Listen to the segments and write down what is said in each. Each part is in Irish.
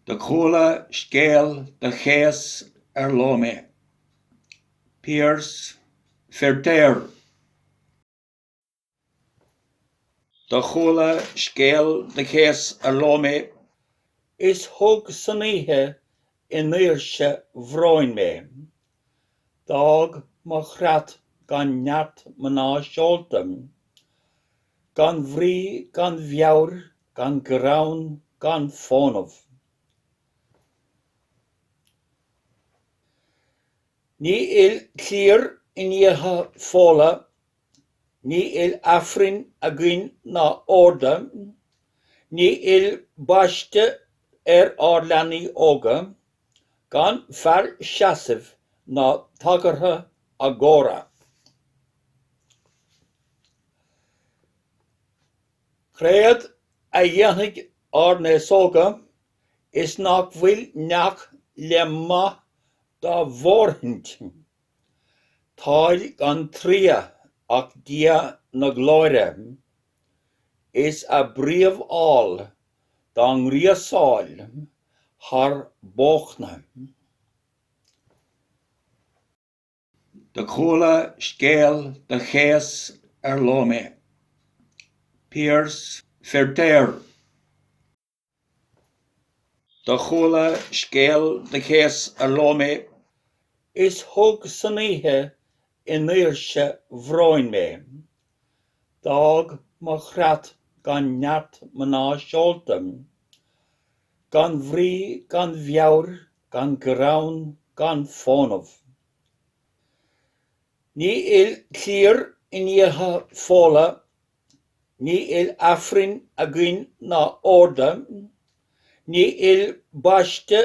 Do chuala scéal do chéas ar ló mé. Piaras Feiritéar. Do chuala scéal do chéas ar ló mé. Is thug san oíche i ndaoirse bhróin mé. D'fhág mo chreat gan neart mná seolta, gan bhrí, gan mheabhair, gan greann, gan fónamh. Ní fhuil cliar in iatha Fódhla Ní fhuil Aifrinn againn ná orda, ní fhuil baiste ar ár leanaí óga, gan fear seasaimh ná tagartha a gcóra. Créad a dhéanfaidh ár n-aos óga is nach bhfuil neach le maith dá bhfóirithint. Táid gan triath ach Dia na Glóire is a bpríomh-ál dá ngríosáil thar bóchna. Do chuala scéal do chéas ar ló mé. Piaras Feiritéar. Do chuala scéal do chéas ar ló mé. Is thug san oíche i ndaoirse bhróin mé. D'fhág mo chreat gan neart mná seolta. Gan bhrí gan mheabhair gan greann gan fónamh. Ní fhuil cliar in iatha Fódhla Ní fhuil Aifrinn againn ná orda, ní fhuil baiste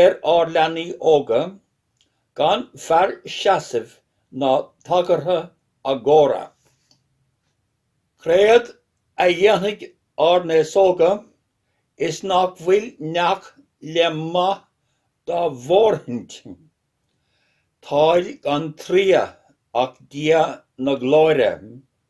ar ár leanaí óga, gan fear seasaimh ná tagartha a gcóra. Créad a dhéanfaidh ár n-aos óga is nach bhfuil neach le maith dá bhfóirithint. Táid gan triath ach Dia na Glóire.